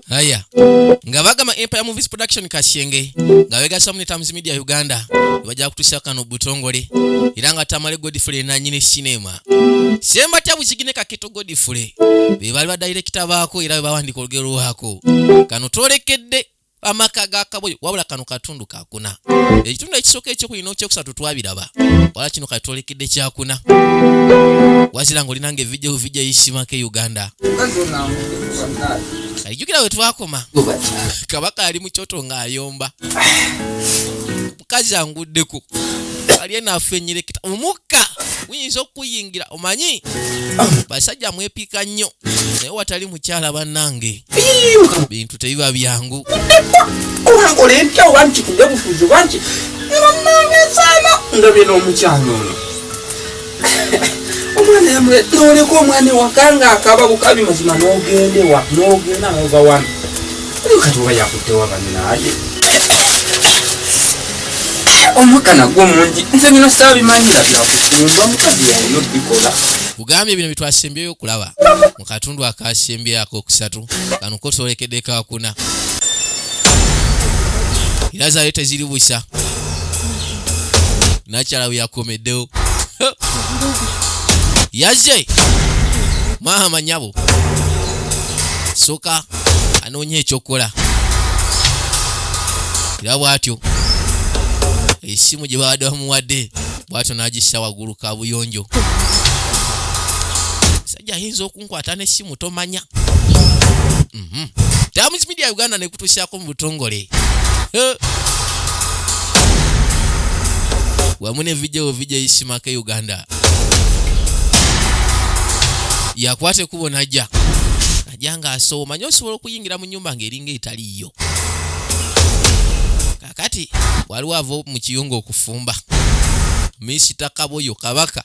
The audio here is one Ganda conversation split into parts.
haya nga bagamba empire movies production kasyenge nga begasamu ne times media uganda bajja kutusa kano butongole era nga tamale godfrey nanyini cinema semba tabuzigine kaketo godfrey bebaali badirekita baako era bebawandika olugero lwako kano twolekedde amaka ga kaboyo wabula kano katundu kakuna ekitundu ekisooka ekyokubiri n'okyokusatu twabiraba wala kino kati twolekedde kyakuna wazira nga olinanga evijja kuvijja yisimako e uganda alijukira we twakoma kabaka ali mu kyoto ng'ayomba mukazi anguddeko ali eno afenyereketa omukka guyinza okukuyingira omanyi basajja mwepiika nnyo naye watali mukyala bannange bintu tebiba byangu omwana yamule noleka omwana ewakanga akaba bukabi mazima nogende wa nogenda nova wano oli kati oba yakutewa baninaye omwaka nagwo mungi nze bino sabimanyi naddala nova mukazi oyo bikola kugambye bino bitwasimbyeyo okulaba mu katundu akasembye akokusatu kano kotolekedde kakuna era zaayo teziri busa nakyala bwe yakomeddewo yazze maama nyabo soka anoonya ekyokukola era bwatyo esimu gye babadde bamuwadde bwatyo n'agissa waggulu kabuyonjo ejja ayinza okunkwata n'essimu tomanya mhm. Times Media Uganda nekutuusaako mu butongole eh. wamu ne vidio vidio isimake Uganda yakwata ekubo najja najja ng'asoowa manya osobola okuyingira mu nyumba ng'eringa etaliiyo kakati waliwo ava mu kiyunga okufumba misita kaboyo kabaka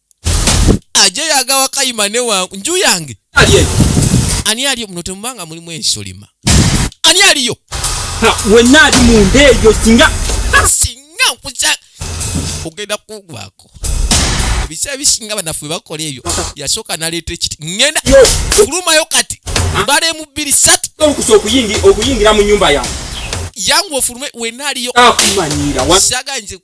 aje yagawa kayima ne wangu nju yange ani aliyo muno temubanga mulimu ensolima ani aliyo wenna ali munda eyo singa singa nkuza ogenda kugwako ebiseera bisinga banafe bakola ebyo yasooka naleeta ekiti ŋenda kulumayo kati mbala emu bbiri satu okuyingira mu nyumba yange yangu ofulume wenaaliyo ah, saga nze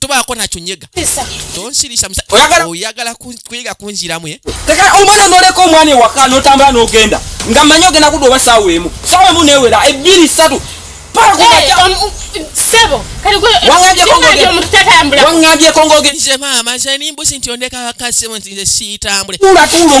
tobaako nakyo nyega tonsirisa oyagala kuyiga kunziramu eh? omwana noleka omwana ewaka notambula nogenda nga manyi ogenda kudda oba saawa emu saawa emu newera ebbiri satu wangambyeko ngogenze maama nze nimbusi nti ondeka wakasimu nti nze siitambule tuula tuula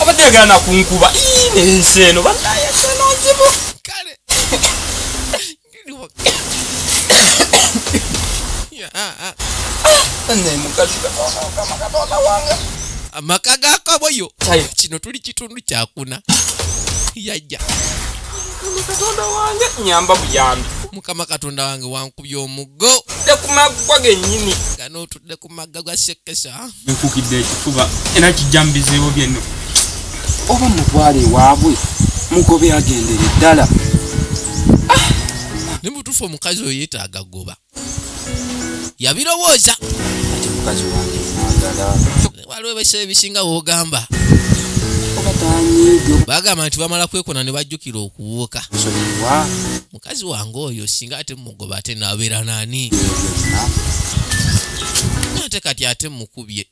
abadde agala nakunkuba ensi eno banaye senonzibu kale amaka gakaboyo kino tuli kitundu kyakuna yajja katonda wange nyamba buyambi mukama katonda wange wankubya omugo tekumaggwa genyini ganootudde ku magga gwa sekesa nkukidde ekifuba era kijja mubizibu byenno oba mutwale ewaabwe mugobe agendere ddala ne mutuufu omukazi oyo yetaaga goba yabirowooza ate mukazi wange mwagala waliwo ebisebo ebisinga wogamba oba tanyiigo bagamba nti bamala kwekona ne bajjukira okuwuuka nsonyiwa kazi wange oyo singa ate mugoba ate nabeera nani ate kati ate mukubye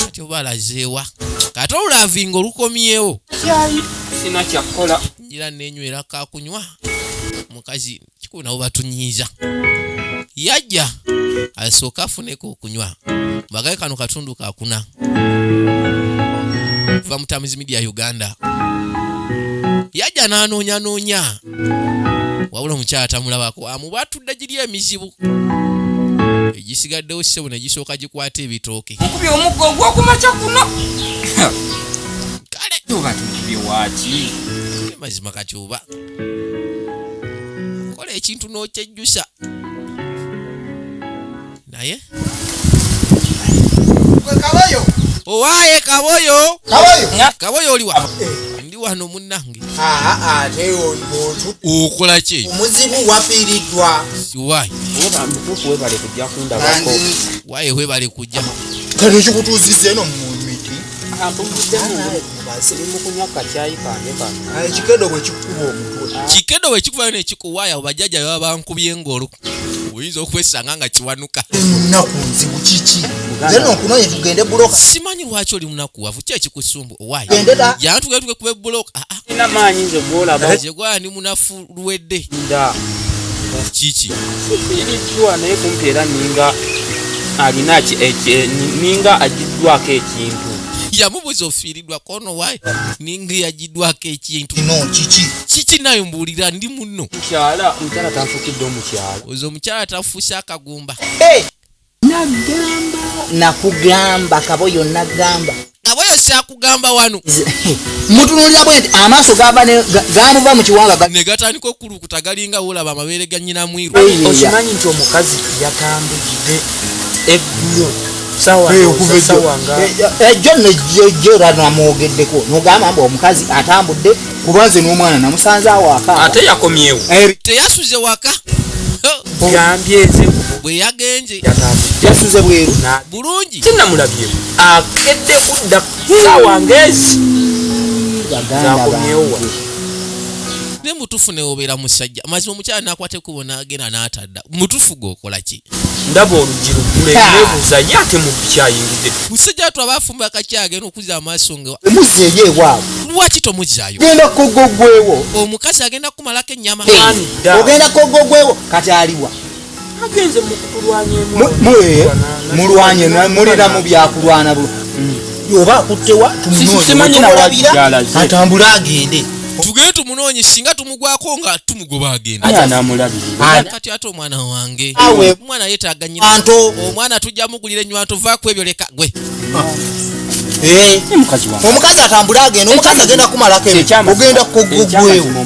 kati oba alazeewa kati olulavinga olukomyewo sina kyakukola njira nenywera kakunywa mukazi kikunawo batunyiiza yajja asooka afuneko okunywa mbagaye kano katundu kakuna va mutamizi media uganda yajja n'anoonyanoonya wabula omukyala tamulabako amuba atudde giri emizibu egisigaddewo sisebo ne gisooka gikwata ebitooke mukubye omuggo ogwokumakya kuno kale oba tumukubye waaki mazima kati oba kola ekintu n'okyejjusa naye owaye kaboyo kaboyo oliwa ndi wano munange okola ki omuzibu wafiiridwa siwayi waye webale kujja kati kikutuusiza eno mumiti kikedo bwekikuba omutwe kikedo bwekikubayo nekikuwaya bajjaja baba bankubye ngolo oyinza okwesanga nga kiwanuka munaku nzibu kiki zeno okunoye tugende buloka simanyi lwaki oli munaku wavu ki ekikusumbu owayi jana tugende tuge kuba ebuloka ah, ah. ina maanyi nze gwolaba gyegwala ni munafu lwedde nda kiki irikiwa naye kumpi era ninga alina ninga agiddwako ekintu yamubuza ofiiridwa kono wayi ninga yagi nkuddwako ekintu kiki nayo mbuulira ndi muno oze omukyala tafuuse akagumba nagamba nakugamba kaboyo nagamba kaboyo sakugamba wano mutunulira bweti amaaso gava gamuva mu kiwanga negatandika okulu kulukuta galinga wolaba amabeere ga nyina mwiru okimanyi nti omukazi yatambudde eggulo ejjo nejjo era namwogeddeko nogamba mbu omukazi atambudde kuba nze n'omwana namusanze awaka ate yakomyewo eh, teyasuze waka bwe yagenze yasuze bweru bulungi tinamulabye akedde kudda saawa ngezi zakomyewo ne mutufu newobera musajja mazima omukyala nakwata ekubo nagenda natadda mutufu gwokola ki ndaba oluggi luggule nebuuza ye ate mu biki ayingidde musajja watu aba afumba akaki agenda okuza amaaso nga omuzzeeyo ewaabwe lwaki tomuzzaayo genda kogogwewo omukazi agenda kukumalako ennyama ogenda kogogwewo kati aliwa mulwanye mulina mu byakulwana bu mm. oba akuttewa tumunoatambule agende tugende tumunoonye singa tumugwako nga tumugoba agendakati ate omwana wange omwana yetaaga nyina omwana tujja mugulira enywanto vaku ebyo leka gwe ah. eh. omukazi atambule agenda omukazi agenda kumalako ogenda kugugwewo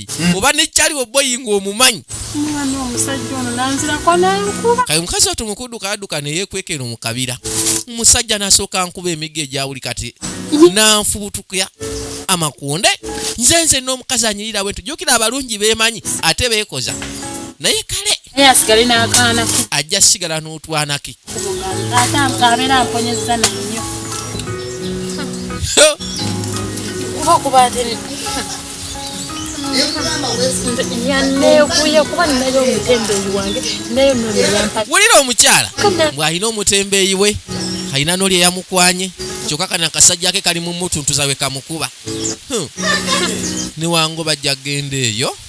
hmm. oba nekyali weboyinga omumanyi kale omukazi watu mukuduka aduka neyekwekeno mukabira omusajja nasooka nkuba emigo egyawuli kati nanfubutukya amakonde nze nze n'omukazi anyirira bwentu jukira abalungi bemanyi ate bekoza naye kale naye asigale n'akaana ke ajja sigala n'otwana ke abeera mponyezza nannyo kuba kuba wulira omukyala bw'alina omutembeeyi we alina noli eyamukwanye kyokka kana akasajja ke kali mu mutuntuza we kamukuba hmm. newango bajja kgenda eyo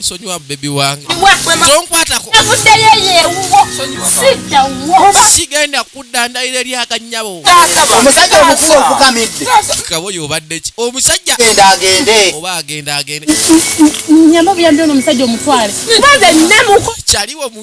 nsonyiwa bebi wange tonkwatako sigenda kuddandalira eri akanyabo omusajja omukuba ofukamidde kabo yobadde ki omusajja oba agenda agende nyama buyambi ono omusajja omutwale kyaliwo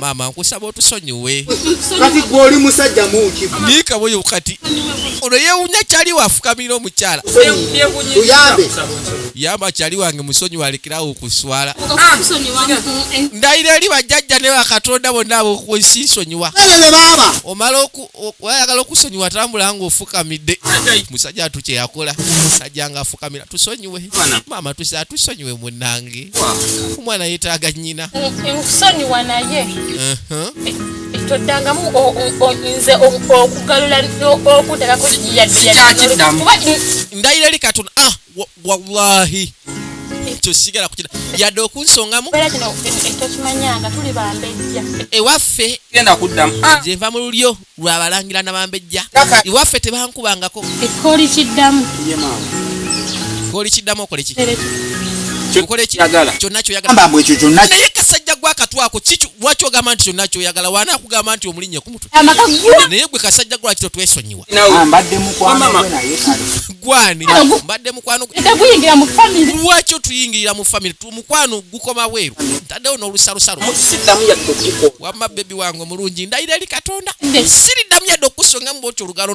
maama nkusaba otusonyiwe kati gwe oli musajja muki miika boyo kati ono yewunya kyali wafukamira omukyala uyambe yamba kyali wange musonyi walekerawo okuswala ndayira eri bajjajja ne bakatonda bonna abokunsisonyiwa omala oku wayagala okusonyiwa atambula nga ofukamidde musajja atu kyeyakola najja nga afukamira tusonyiwe maama tusi atusonyiwe munange omwana yetaaga nyina nkusonyiwa naye toddangamu nze okugalula okutakako ndayira eri katonda ah! wallahi ekyo sigala kukira yadde okunsongamu ewaffe ah! nze nva mu lulyo lwabalangira nabambejja ewaffe tebankubangako ekkooli kiddamu ekkooli kiddamu okoleki kyonakyoyagala naye kasajja gwakatwako lwaki ogamba nti kyonna kyoyagala waana akugamba nti omulinnye kumu naye gwe kasajja gwaki totwesonyiwa gwani mbadde mukwano lwaki otuyingirira mu famiry mukwano gukoma weeru ntaddewo n'olusalusalo wamma bebi wange omulungi ndayira eri katonda siriddamu yadde okusonga mu bwotyo olugalo